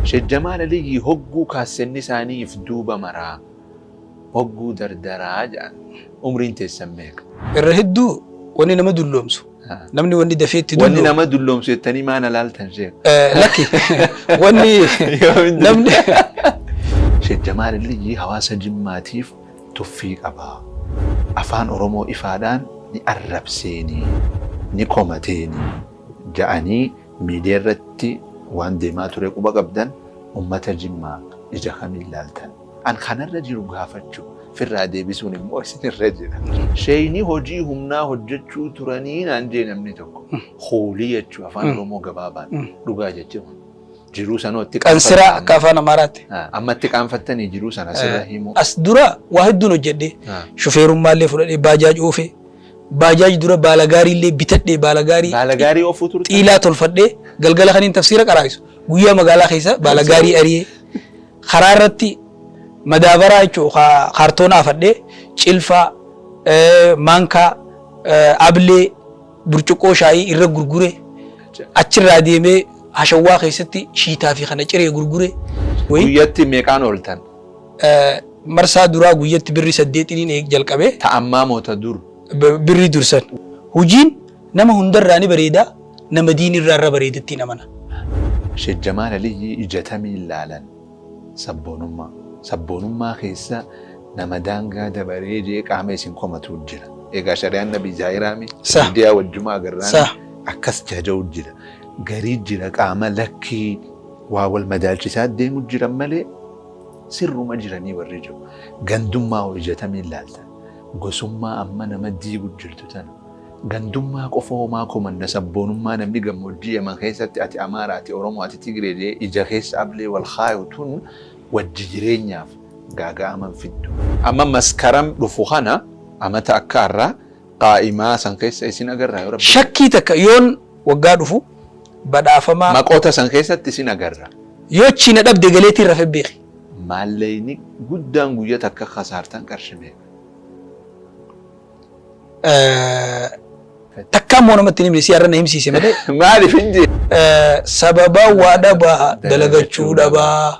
Shek Jamaal Aliyyii hogguu kaassenni isaanii if duuba maraa hogguu dardaraa ja'an umriin teessan meeqa? Irra hedduu wanni nama dulloomsu namni wanni dafee itti Wanni dulloomu nama dulloomsu jettanii maa na laaltan sheek? eh, lakki wanni Yoomin namni Sheek Jamaal Aliyyi hawaasa Jimmaatiif tuffii qaba. Afaan Oromoo ifaadhaan ni arrabseeni, ni komateeni ja'anii Miidiyaa irratti waan deemaa ture quba qabdan? Ummata Jimmaa ija kamiin laaltan? An ka narra jiru gaafachuu, firraa deebisuun immoo isin irra jira. Sheeyni hojii humnaa hojjachuu turanii naan jee namni tokko. Hoolii jechuu afaan Oromoo gabaabaan dhugaa jechuu jiruu sanoo itti Kan siraa qaanfattanii- akka afaan Amaaraatti. Ah, amma itti qaanfattanii jiruu sana sirra himuu. As dura waa hedduun hojjedhe. Ah. Shufeerummaa illee fudhadhee baajaaj oofe. Baajaaj dura baala gaarii illee bitadhee baala gaarii Baala gaarii oofuu turte. xiilaa tolfadhee galgala kaniin tafsiira qaraa'isu guyyaa magaalaa keessa baala gaarii ari'ee karaa irratti madaabaraa jechuun kaartoona afadhee cilfaa eh, maankaa eh, ablee burcuqqoo shaayii irra gurgure achirraa deemee hashawwaa keessatti shiitaa fi kana ciree gurgure wayii Guyyatti meeqaan ooltan? marsaa duraa guyyatti birri saddeetiniin eeg jalqabe. Ta ammaa moo ta dur? Birri dur san. Hujiin nama hundarraa ni bareeda, nama diinirraa irra bareedattiin amana. Sheek Jamaal Aliyyii ija tamiin laalan? Sabboonummaa. Sabboonummaa keessa nama daangaa dabaree jee qaama isin komatuu jira. Egaa shari'aan nabii zaahiraami? Sah. Miidiyaa wajjumaa agarraami? Sah. Akkas jaja'u jira. Garii jira qaama lakkii Waa wal madaalchisaa deemu jiran malee sirruma jiranii warri jiru. Gandummaa hoo ija tamiin laaltan? Gosummaa amma nama diigu jirtu tana. Gandummaa qofa homaa komanna sabboonummaa namni gammoojjii Yaman keessatti ati Amaara, ati Oromoo, ati Tigree jedhee ija keessa ablee wal kaayu tun wajji jireenyaaf gaaga'ama hin fiddu. Amma maskaram dhufu kana amata akka arraa qaa'imaa san keessa isin agarraa yoo rabbi jedhe. Shakkii takka yoon waggaa dhufu badhaafama. Maqoota san keessatti isin agarra. Yoo achii na dhabde galeetiin rafe beeki. Maalleyni guddaan guyya takka kasaartan qarshi meeqa? Takkaa immoo namatti hin himne si har'a na himsiise malee. Maaliif hin jee? Sababa waa dhabaa dalagachuu dhabaa.